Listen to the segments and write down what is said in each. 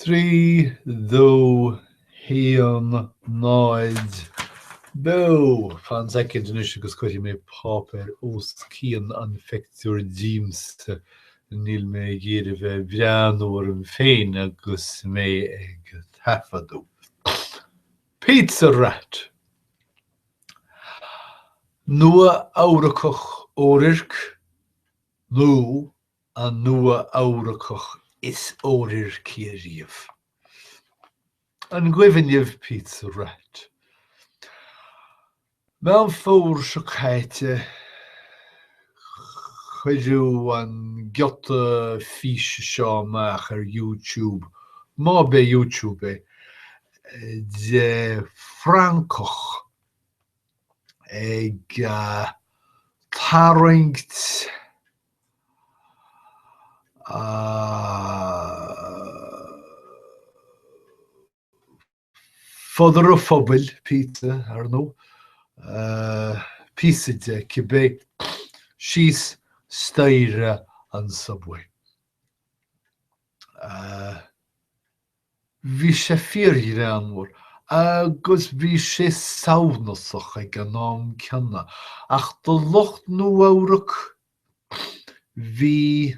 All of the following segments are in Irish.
Trí, dó, haon, náid, beo! Fan soicind anois agus cuirfidh mé páipéar os cionn an phictiúir díomsa. Níl mé ag iarraidh bheith ag breathnú orm féin agus mé ag taifeadadh. Pizza Rat! Nua Eabhracach Oirirc nó an Nua Eabhracach is oirirci ariamh. An gcuimhin libh Pizza Rat? Meán Fómhair seo caite cuireadh an giota físe seo amach ar YouTube, má b'é YouTube é, de francach ag tarraingt, fodar an phobail, pizza, ar ndóigh. Píosa de, cibé. Síos staighre an subway. Bhí sé fíorghreannmhar agus bhí sé samhnasach ag an am céanna ach do lucht Nua-Eabhrac bhí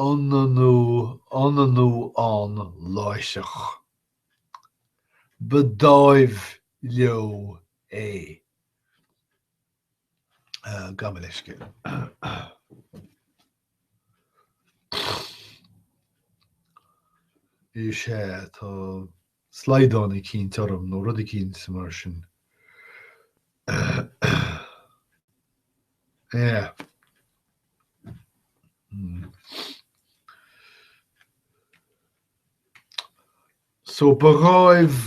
ionannú ann láithreach. Ba dháimh leo é. Gabh mo leithscéal. is ea, tá slaghdán eicínt orm nó rud eicínt mar sin. Ea. So ba dháimh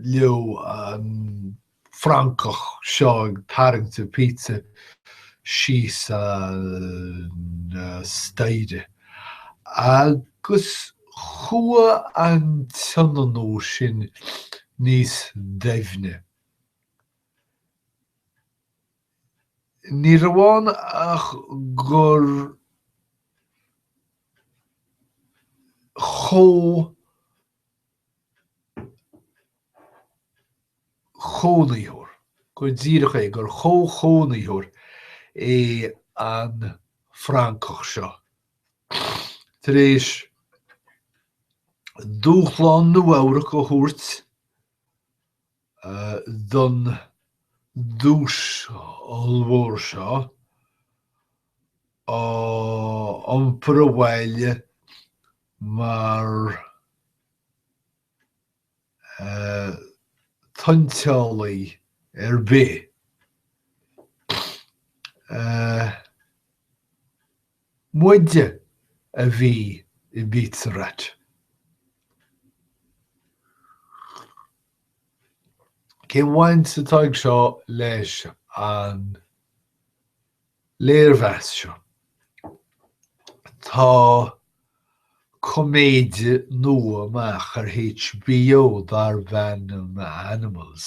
leo an francach seo ag tarraingt a pizza síos an staighre agus chuaigh an t-ionannú sin níos doimhne. Ní raibh ann ach gur chomhchónaitheoir, go díreach é, gur chomhchónaitheoir é an francach seo. Tar éis dúshlán Nua-Eabhrac a thabhairt, don duais ollmhór seo a iompar abhaile mar tointeálaí ar bith. Muide a bhí i bpizza rat. Cén bhaint atá aige seo leis an léirmheas seo? Tá coiméide nua amach ar HBO darb ainm Animals.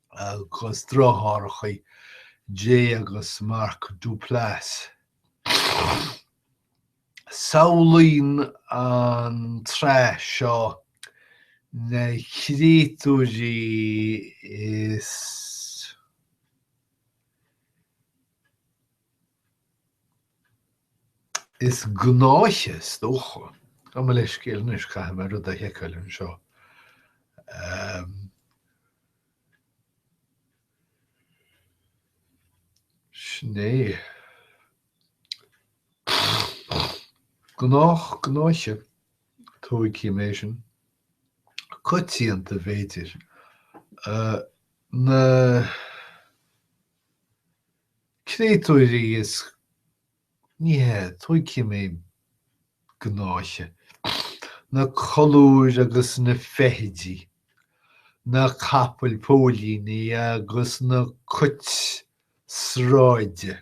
agus deartháireacha Jay agus Mark Duplass. Samhlaíonn an tsraith seo na créatúirí is. Is gnáiche, is dócha. Gabh mo leithscéal anois, caithfidh mé rud a sheiceáil anseo. Sin é. Gnách, gnáiche. Tóigfidh mé sin. Coitianta, b'fhéidir. Na. créatúirí is ní hea, tóigfidh mé gnáiche, na colúir agus na feithidí, na capaill póilíní agus na cuit sráide.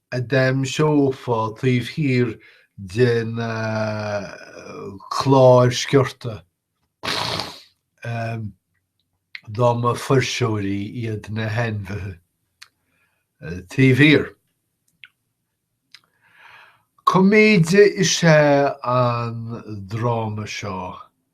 a d'aimseofá taobh thiar den chlár sciorta dá mba fuirseoirí iad na hainmhithe taobh thiar. Coiméide is ea an dráma seo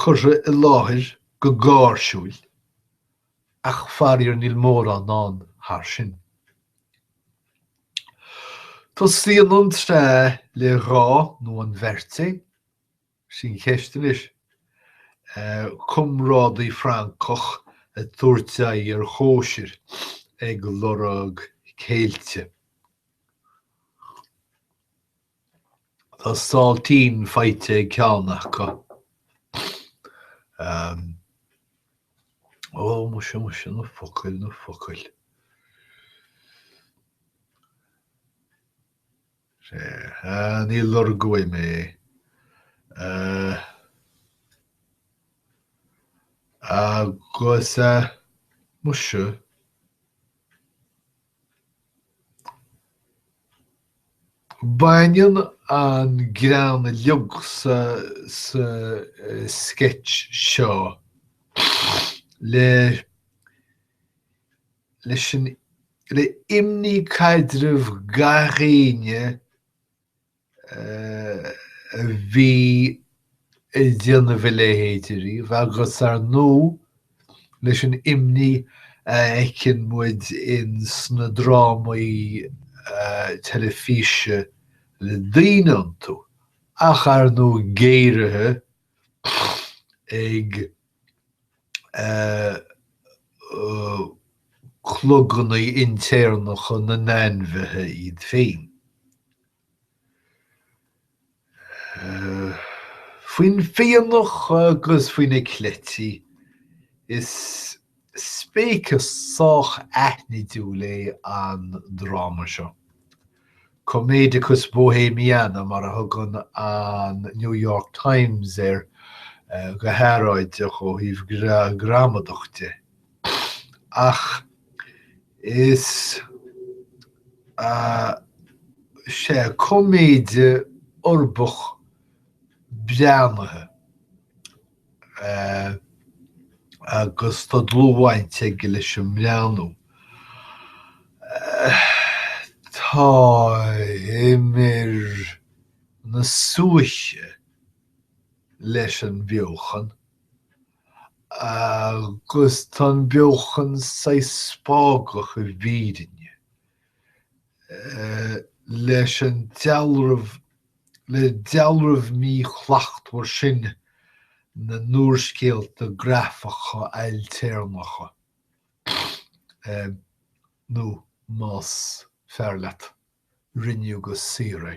curtha i láthair go gáirsiúil ach faraor níl mórán ann thar sin. Tosaíonn an tsraith le dhá nó an bheirt é? Sin ceist anois. Comrádaí francach ag tabhairt aghaidh ar chóisir ag lorg céilte. Tá sáiltín faighte ag ceann acu. Ó, muise, muise, na focail, na focail. Ní lorgóidh mé é. Agus, muise. Baineann an greann uilig sa sceits seo le imní caidrimh gach éinne a bhí ag déanamh a leithéid ariamh agus ar ndú leis an imní a fheiceann muid in sna drámaí teilifíse le daoine iontu ach ar ndú géaraithe ag clogannaí intéarnacha na n-ainmhithe iad féin. Faoin bhfionnadh agus faoi na cleití is. Speiceas sách aithnidiúil é an dráma seo. Comedicus Bohemiana mar a thugann an New York Times air go hearráideach ó thaobh gramadach de. Ach is ea, is é coiméide uirbeach breathnaithe agus tá dlúthbhaint aige leis an mbreathnú. Tá imir na súiche leis an bheochan agus tá an beochan sách spágach i bhfírinne. leis an dealramh, le dealramh míshlachtmhar sin na n-úrscéalta grafacha ailtéarnacha, nó más fearr leat, rinneadh go saor é.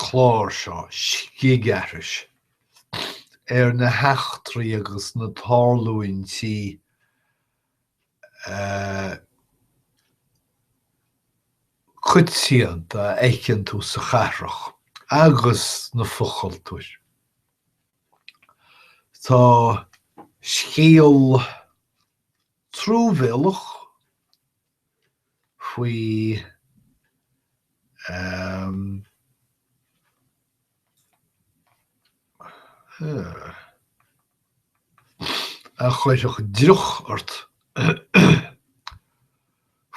chlár seo scigaithris ar na heachtraí agus na tarlúintí coitianta a fheiceann tú sa chathrach agus na fochultúir. Tá scéal truamhéalach faoi a chuirfeadh driuch ort,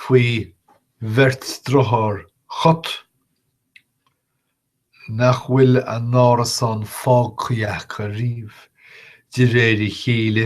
faoi bheirt driotháir chat nach bhfuil a n-árasán fágtha acu ariamh de réir a chéile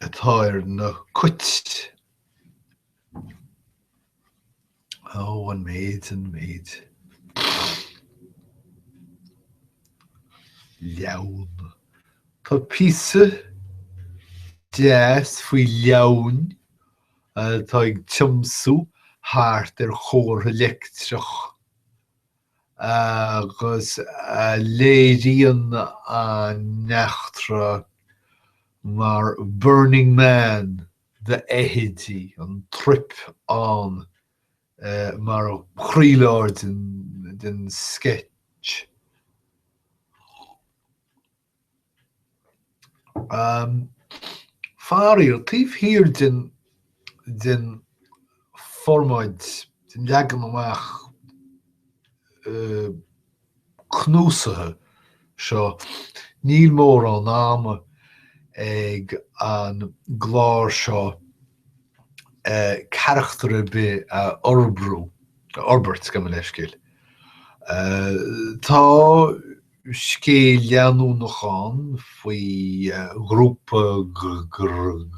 atá ar na cait? Ó an méid, an méid. Leamhain. Tá píosa deas faoi leamhain atá ag tiomsú thart ar chomhartha leictreach. agus a léiríonn an eachtra mar 'Burning Man' d'fheithidí, an trip ann mar chroílár den sceits. Faraor, taobh thiar den den formáid, den leagan amach cnuasaithe seo, níl mórán ama ag an gclár seo carachtar ar bith a fhorbairt, gabh mo leithscéal. Tá scéal leanúnach ann faoi ghrúpa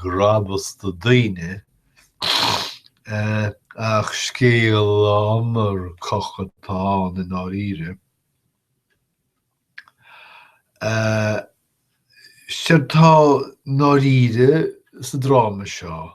grabasta daoine ach scéal iomarcach atá ann i ndáiríre. Séard atá i ndáiríre sa dráma seo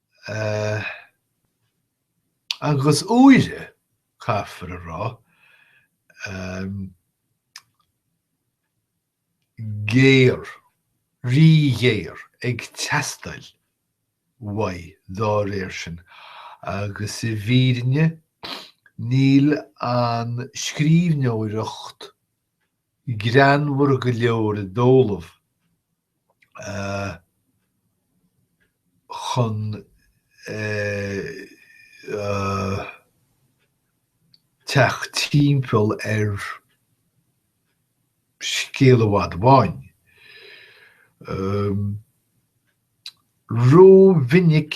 Agus úire, caithfear a rá, géar, rí-ghéar ag teastáil uaidh dá réir sin. Agus i bhfírinne, níl an scríbhneoireacht greannmhar go leor i dtólamh chun teacht timpeall ar scéal i bhfad amháin. Ró-mhinic.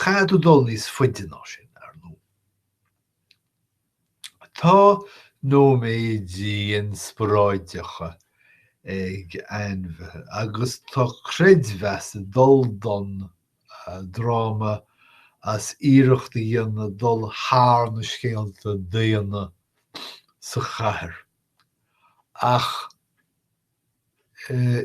Caithfidh tú dul níos faide ná sin, ar ndóigh. Tá nóiméidí inspioráideacha ag ainmhithe agus tá creidiúint ag dul don dráma as iarracht a dhéanamh dul thar na scéalta daonna sa chathair ach i